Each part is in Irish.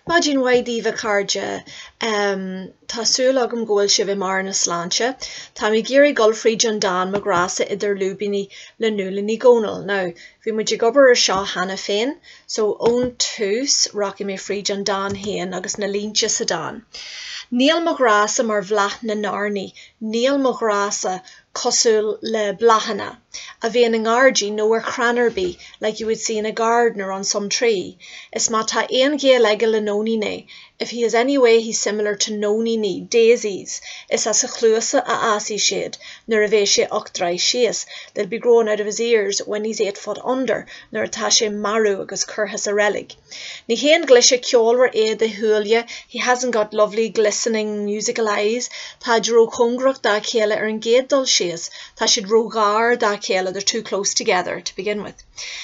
Maidin mhaith daoibh a chairde. Tá súil agam go bhfuil sibh i mbarr na sláinte. Táim ag iarraidh dul fríd an dán 'Mo Ghrá-sa idir Lúibíní' le Nuala Ní Dhomhnaill. Now, bhí muid ag obair ar seo cheana féin, so ón tús rachaidh mé fríd an dán féin agus na línte sa dán, 'Níl mo ghrá-sa mar bhláth na n-airní, níl mo ghrá-sa cosúil le bláthanna a bhíonn i ngairdín nó ar chrann ar bith like you would see in a garden or on some tree is má tá aon ghaol aige le nóiníní if he is any way he's similar to nóiníní daisies is as a chluasa a fhásfaidh siad nuair a bheidh sé ocht dtroigh síos they'll be growing out of his ears when he's eight foot under nuair atá sé marbh agus curtha sa reilig. Ní haon ghlaise cheolmhar iad a shúile he hasn't got lovely glistening musical eyes, táid róchóngarach dá chéile ar an gcéad dul síos, tá siad róghar dá chéile they're too close together to begin with.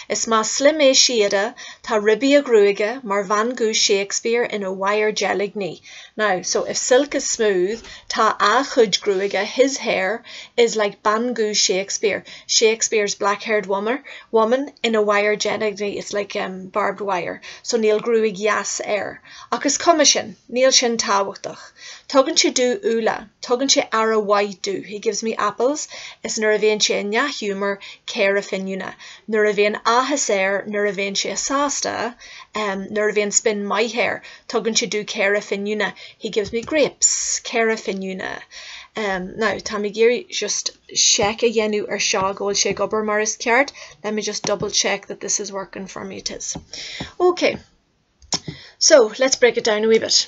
Is más slim é síoda, tá ribí a ghruaige mar bhean dhubh Shakespeare ina wire deilgní. Now, so if silk is smooth, tá a chuid gruaige, his hair, is like bean dhubh Shakespeare, Shakespeare's black-haired woman, ina wire deilgní it's like, em, barbed wire, so níl gruaig dheas air. Ach is cuma sin, níl sin tábhachtach. Tugann sé domh úlla, tugann sé aire mhaith domh, he gives me apples, is nuair a bhíonn sé i ndea-ghiúmar, caora fíniúna. Nuair a bhíonn áthas air, nuair a bhíonn sé sásta, em, nuair a bhíonn spin maith air, Tugann sé domh caora fíniúna, he gives me grapes, caora fíniúna. Um, now, tá mé ag iarraidh just check a dhéanamh ar seo go bhfuil sé ag obair mar is ceart, let me just double check that this is working for me, it is. Ok, so let's break it down a wee bit.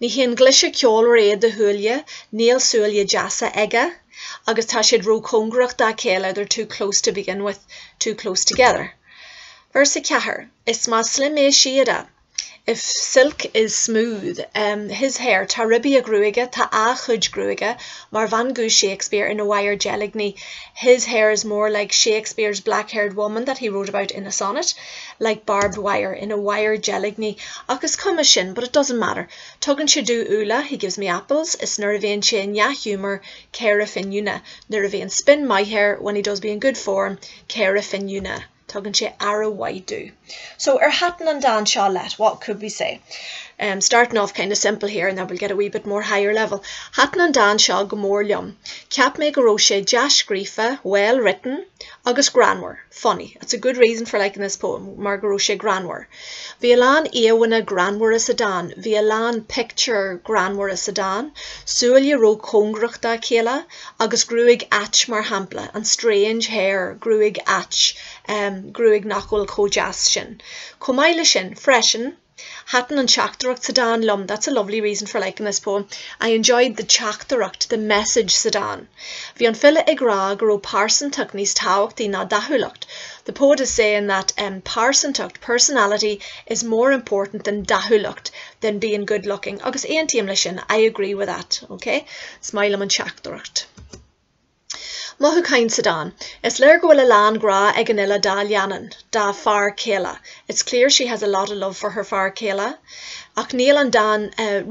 Ní haon ghlaise cheolmhar iad a shúile, níl súile deasa aige agus tá siad róchóngarach dá chéile, they're too close to begin with, too close together. Véarsa 4, Is más slim é síoda, if silk is smooth, his hair, tá ribí a ghruaige, tá a chuid gruaige, mar bhean dhubh Shakespeare ina wire deilgní, his hair is more like Shakespeare's black-haired woman that he wrote about in a sonnet. like barbed wire, ina wire deilgní ach is cuma sin, but it doesn't matter tugann sé domh úlla, he gives me apples is nuair a bhíonn sé i ndea-ghiúmar caora fíniúna, nuair a bhíonn spin maith air, when he does be in good form caora fíniúna tugann sé aire mhaith domh. So ar thaitin an dán seo leat? What could we say? Um, starting off kind of simple here and then we'll get a wee bit more higher level. Thaitin an dán seo go mór liom. Cheap mé go raibh sé dea-scríofa, well written, Agus greannmhar, funny, that's a good reason for liking this poem, mar go raibh sé greannmhar. Bhí a lán íomhánna greannmhara sa dán, bhí a lán pictiúr greannmhara sa dán, súile ró-chóngarach dá chéile agus gruaig ait mar shampla, and strange hair, gruaig ait, em, gruaig nach bhfuil chomh deas sin. Chomh maith le sin, freisin, Thaitin an teachtaireacht sa dán liom, that's a lovely reason for liking this poem, I enjoyed the teachtaireacht, the message sa dán. Bhí an file ag rá go raibh pearsantacht níos tábhachtaí ná dathúlacht, the poet is saying that em pearsantacht, personality, is more important than dathúlacht, than being good looking, agus aontaím leis sin, I agree with that, okay? Is maith liom an teachtaireacht. Mothúcháin sa dán. Is léir go bhfuil a lán grá ag an fhile dá leannán, dá fear céile, It's clear she has a lot of love for her fear céile, ach níl an dán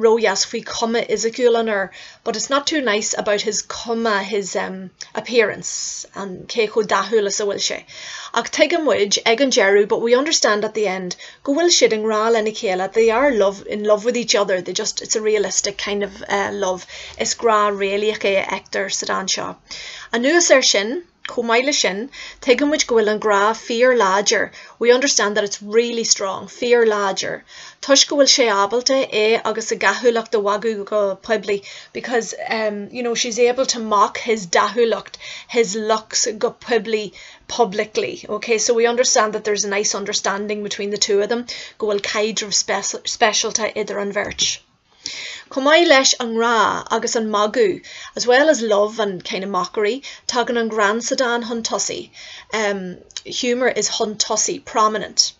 ródheas faoi chuma fhisiciúil an fhir but it's not too nice about his cuma, his appearance, cé chomh dathúil is a bhfuil sé. Ach tuigeann muid ag an deireadh but we understand at the end go bhfuil siad i ngrá lena chéile they are love in love with each other they just it's a realistic kind of uh, love is grá réalaíoch é a fheictear sa dán seo anuas ar sin chomh maith le sin tuigeann muid go bhfuil an grá fíor láidir we understand that it's really strong fíor láidir toisc go bhfuil sé ábalta é agus a dhathúlacht a mhagadh go poiblí because um, you know she's able to mock his dathúlacht his looks go poiblí publicly, ok, so we understand that there's a nice understanding between the two of them, go bhfuil caidreamh speisialta idir an bheirt. Chomh maith leis an ngrá agus an magadh, as well as love and kind of mockery, tagann an greann sa dán chun tosaigh, humour is chun tosaigh, prominent.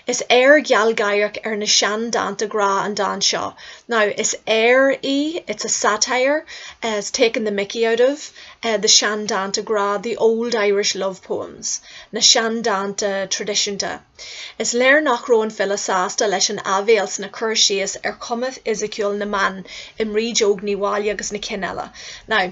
Is aoir ghealgháireach ar na sean-dánta grá an dán seo. Now is aoir í, it's a satire, it's taking the mickey out of, the sean-dánta grá, the old Irish love poems. na sean-dánta traidisiúnta. Is léir nach raibh an file sásta leis an áibhéil sna cur síos ar chuma fhisiciúil na mban i mBríd Óg Ní Mháille agus na cinn eile. Now.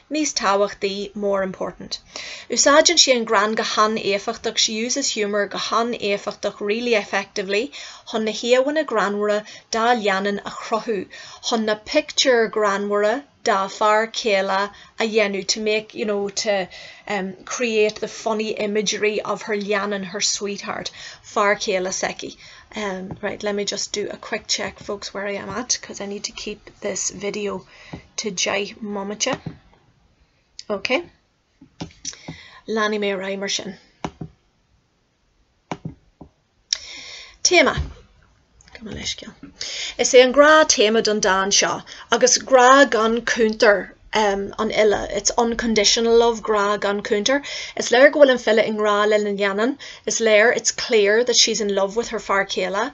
Níos tábhachtaí, more important. Úsáideann sé an greann go han-éifeachtach, she uses humour go han-éifeachtach, really effectively, chun na híomhánna greannmhara dá leannán a chruthú, chun na pictiúir ghreannmhara dá fear céile a dhéanamh, to make, you know, to, um, create the funny imagery of her leannán, her sweetheart, fear céile s'aici. Um, right, let me just do a quick check, folks, where I am at, 'cause I need to keep this video. to deich mbomaite. Ok. Leanfaidh mé ar aghaidh mar sin. Téama. Gabh mo leithscéal. Is é an grá téama don dán seo agus grá gan cúntar um, an fhile. It's unconditional love, grá gan cúntar. Is léir go bhfuil an file i ngrá lena leannán. Is léir, it's clear, that she's in love with her fear céile.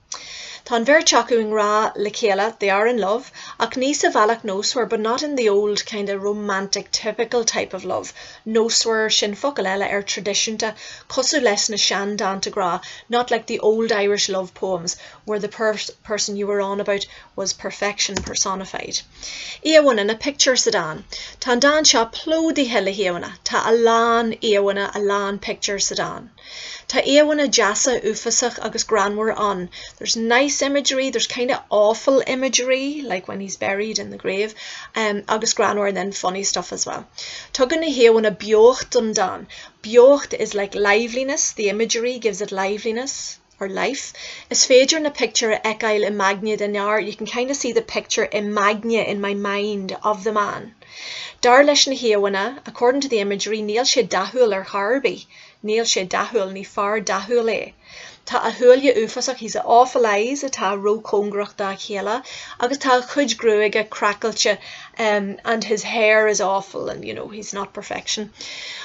Tá an bheirt acu i ngrá le chéile, they are in love, ach ní sa bhealach nósmhar, but not in the old kinda romantic typical type of love. Nósmhar, sin focal eile ar traidisiúnta, cosúil leis na seandánta grá, not like the old Irish love poems where the person you were on about was perfection personified. Íomhánna nó pictiúir sa dán, tá an dán seo plódaithe le híomhánna, tá a lán íomhánna, a lán pictiúr sa dán. Tá íomhanna deasa uafasach agus greannmhar ann, there's nice imagery, there's kind of awful imagery like when he's buried in the grave em agus greannmhar and then funny stuff as well. Tugann na híomhanna beocht don dán, beocht is like liveliness, the imagery gives it liveliness. or life. Is féidir na pictiúir a fheiceáil i m'aigne den fhear, you can kind of see the picture in m'aigne, in my mind, of the man. Dar leis na híomhánna, according to the imagery, níl sé dathúil ar chor ar bith. Níl sé dathúil, ní fear dathúil é. Tá a shúile uafásach, he has awful eyes, atá róchóngarach dá chéile agus tá a chuid gruaige craiceáilte, and his hair is awful and, you know, he's not perfection.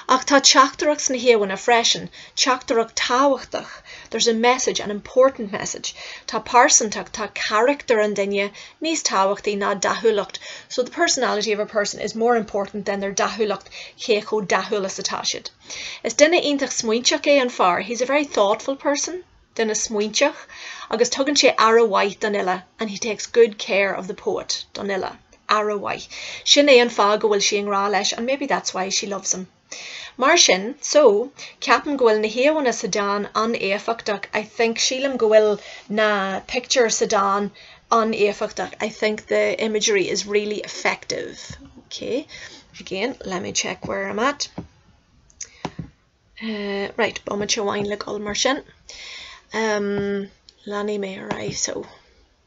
Ach tá teachtaireacht sna híomhánna freisin. teachtaireacht thábhachtach there's a message, an important message tá pearsantacht, tá carachtar an duine níos tábhachtaí ná dathúlacht so the personality of a person is more important than their dathúlacht cé chomh dathúil is atá siad is duine iontach smaointeach é an fear he's a very thoughtful person duine smaointeach agus tugann sé aire mhaith don fhile and he takes good care of the poet don fhile aire mhaith sin é an fáth go bhfuil sí i ngrá leis and maybe that's why she loves him. Mar sin, so, ceapaim go bhfuil na híomhánna sa dán an-éifeachtach, I think, sílim go bhfuil na pictiúir sa dán an-éifeachtach, I think the imagery is really effective, ok, again, let me check where I'm at, eh, right, bomaite amháin le dul mar sin, ehm, leanfaidh mé ar aghaidh, so.